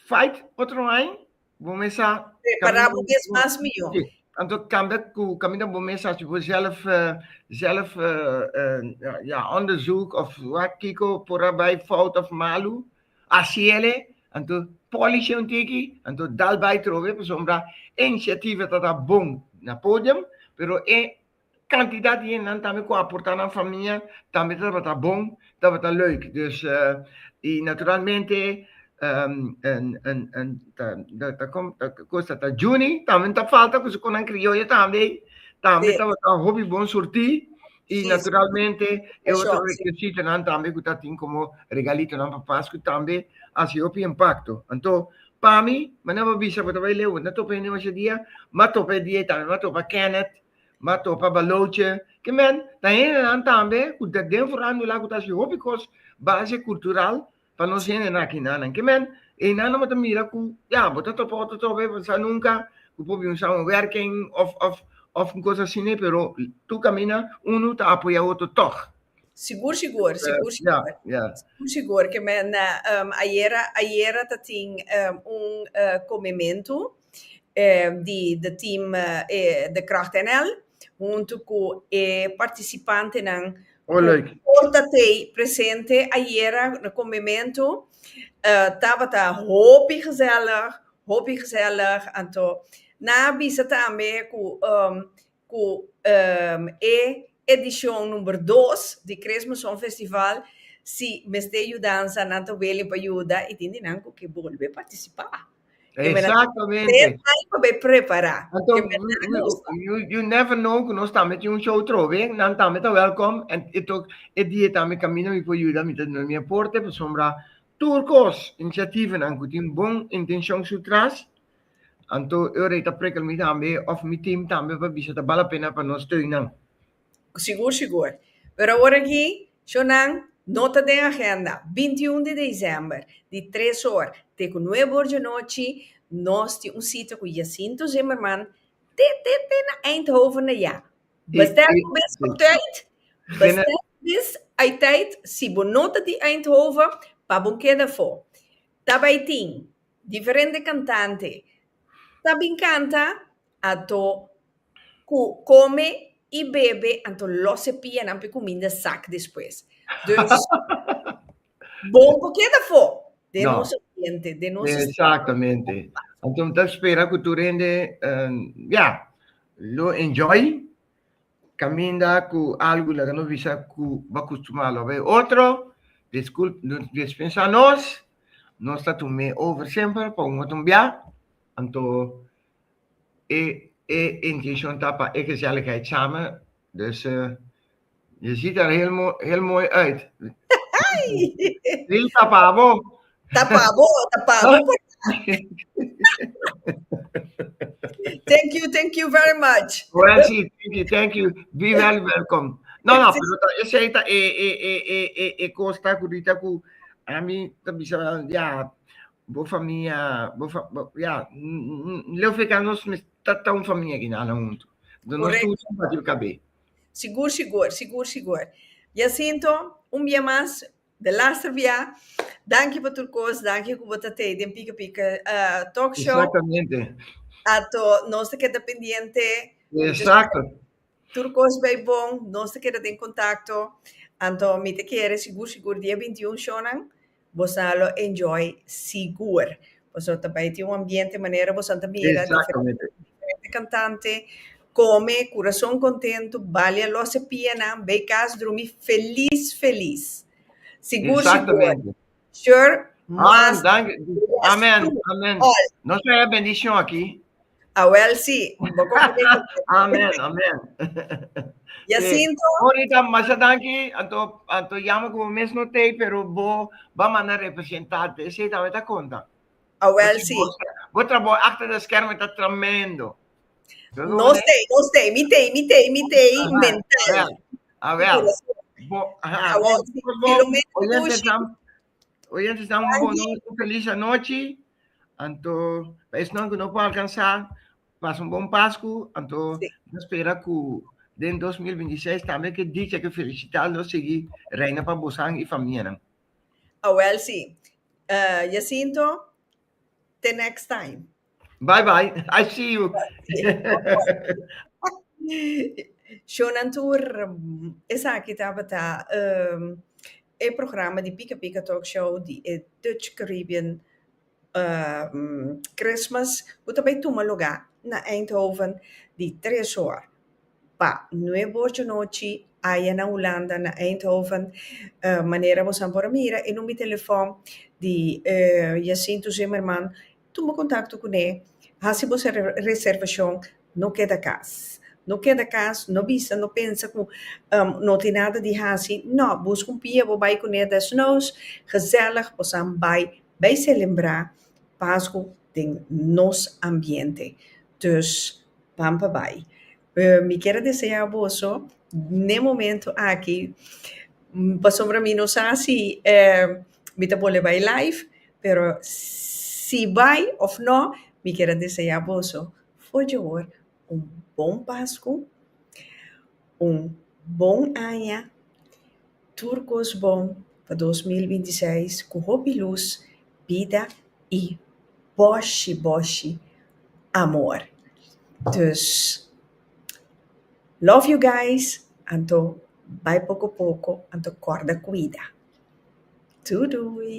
fight otro aña, Bo mesa Prepara bo mes mas mihó. Sí. Anto cambia cu caminda bo mesa si bo zelf, eh, zelf, eh, eh, ja, onderzoek of wat kiko por a bai fout of malu, asi ele, anto polish un tiki, anto dal bai trobe, pasobra e initiativa ta ta bon na podium, pero e Cantidad di hendenan tambe cu a porta nan famia tambe tabata bon, tabata leuk. Dus, y naturalmente Cos ta ta Juni tambe no ta falta cu su conan crioyo tambe, tambe tabata hopi bon surti y naturalmente e otro requisitonan tambe cu ta tin como regalitonan pa Pascu tambe haci hopi impacto. Anto, pa mi, manera bo a bisa bo ta bay leu, bo no a topa hende masha dia, bo a topa e dia y tambe bo a topa Kenneth, M'a topa Baloche, ke men ta hendenan tambe ku ta den forando la ku ta hasi hopi kos base kultural pa nos hende nan aki nan. Ke men einan no ta mira ku ya bo ta topa otro trobe, bo no sa nunka ku por bin un samenwerking òf òf òf un kos asina, pero tur kaminda unu ta apoyá otro tòg. Sigur sigur, sigur sigur, sigur sigur, ke men ayera ayera ta tin un komementu. di de team de Kracht NL huntu cu e participantenan cu por ta tey presente ayera na comemento tabata hopi gezellig, hopi gezellig, anto nan a bisa tambe cu ku e edishon number dos di Kresme Songfestival si mester yudansa nan ta wili pa yuda i tin di nan ku ke bolbe partisipá. Tres Exactamente. ai pa bai prepará. Anto Ke mester you, you, gusta. you, you never know ku nos tambe tin un show trobe, nan tambe ta welkom en e tok e dia tambe kaminda mi por yuda mi ta duna mi aporte pasobra tur kos, inisiativenan ku tin bon intenshon su tras, Anto ora i ta prekal mi tambe of mi tim tambe pa bisa ta bal a pena pa nos steunan? Sigur sigur. Pero awor aki, shownan nota den agenda, binti i un di desèmber di tres or te ku nuebe or djanochi nos tin un sita ku Jacinto Zimmerman te te te na Eindhoven na ya. Bestel ku bis op tùit, bestel ku bis ai tùit si bo no ta di Eindhoven pa bo keda afó. Ta bai tin. Diferente cantante ta bin canta anto cu come y bebe anto los e pianan pe cuminda zak despues dus bon cu keda fo den nos ambiente den nos street. Exactamente anto mi ta spera cu tur hende ya lo enjoy Caminda cu algo laga nos bisa cu bo a custumá lo bay otro, disculp, no dies pensa nos, nos ta tu me over semper pa un otro bia, anto e e intencion ta pa e gezelligheid samen, dus je ziet er heel mooi, heel mooi uit. Lisa pa abo, Ta pa bo, ta pa bo por ta. thank you, thank you very much. Well, sí, thank you, thank you. Be very welcome. No, no, pero ta, ese ahí ta, e, e, e, e, e, e costa curita cu, a mí, ta bisa, ya, bo familia, bo, fa, bo ya, leo feca nos, ta, ta un familia que nana junto. Do nos tu, simpatico cabé. Sigur, sigur, sigur, sigur. Jacinto, un bia mas, De laster bia. Danki pa tur kos. Danki ku bo ta tei den Pika Pika Talk Show. Exactamente. Ato nos ta keda pendiente. Exacto. Tur kos bai bon. Nos ta keda den kontakto. Anto mi ta kere sigur sigur dia bintiun shownan bo sa lo enjoy sigur. Pasobra ta bai tin un ambiente manera bosan ta mira diferente kantante kome kurason kontentu bali a lòs e pianan bai kas drumi felis felis sigur sigur shor mas. Amen amen nos ta hèr bendishon aki. Awel si, bo con prometo un kos. Amen, amen. Jacinto. Si. Monica, masha danki. Anto, anto yama cu bo mes no tei, pero bo ba manda representante. Esey ta meta conta. Awel si. Bo trabou achter de schermen ta tremendo. Nos tei, nos tei. Mi tei, mi tei, mi tei. Aha, mental. Awel, awel. Bo, aha. Awel si. Filomena Cushi. Oyentes dan un bon noche, un feliz anochi. Anto, pa esnan ku no por alcansa, pas un bon Pasku. Anto, Sí. no spera ku den 2026 tambe ke dicha, ke felisitat lo sigui reina pa bosan i famianan. Awel si. Eh, Jacinto, te next time. Bye bye, I see you. Shownan tur, esaki tabata um, e programa di Pika Pika Talk Show di e Dutch Caribbean um, Christmas, ku ta bay tuma lugá na Eindhoven di tres hor pa nuebe hor dje nochi, aya na Hulanda, na Eindhoven. Uh, manera bosan por a mira, e number di telefòn di eh, Jacinto Zimmerman, Tuma kontakto kuné, hasi bo reservashon, no keda kas. No keda kas, no bisa, no pensa ku no tin nada di hasi, no, buska un pia bo bai kuné desnous, gezellig, bosan bai, bai selebrá Pasku den nos ambiente. Dus, ban pa bai. Mi kier a deseá boso n'e momentu aki, pasobra mi no sa si e mi ta bol'e bai live, pero si bai òf nò, mi kier a deseá boso for dje wòr un bon Pasku, un bon aña. Tur kos bon pa dos mil binti seis ku hopi lus, bida i boshi boshi amor. Dus, love you guys, anto bai poko poko, anto kòrda kuida. Doei doei.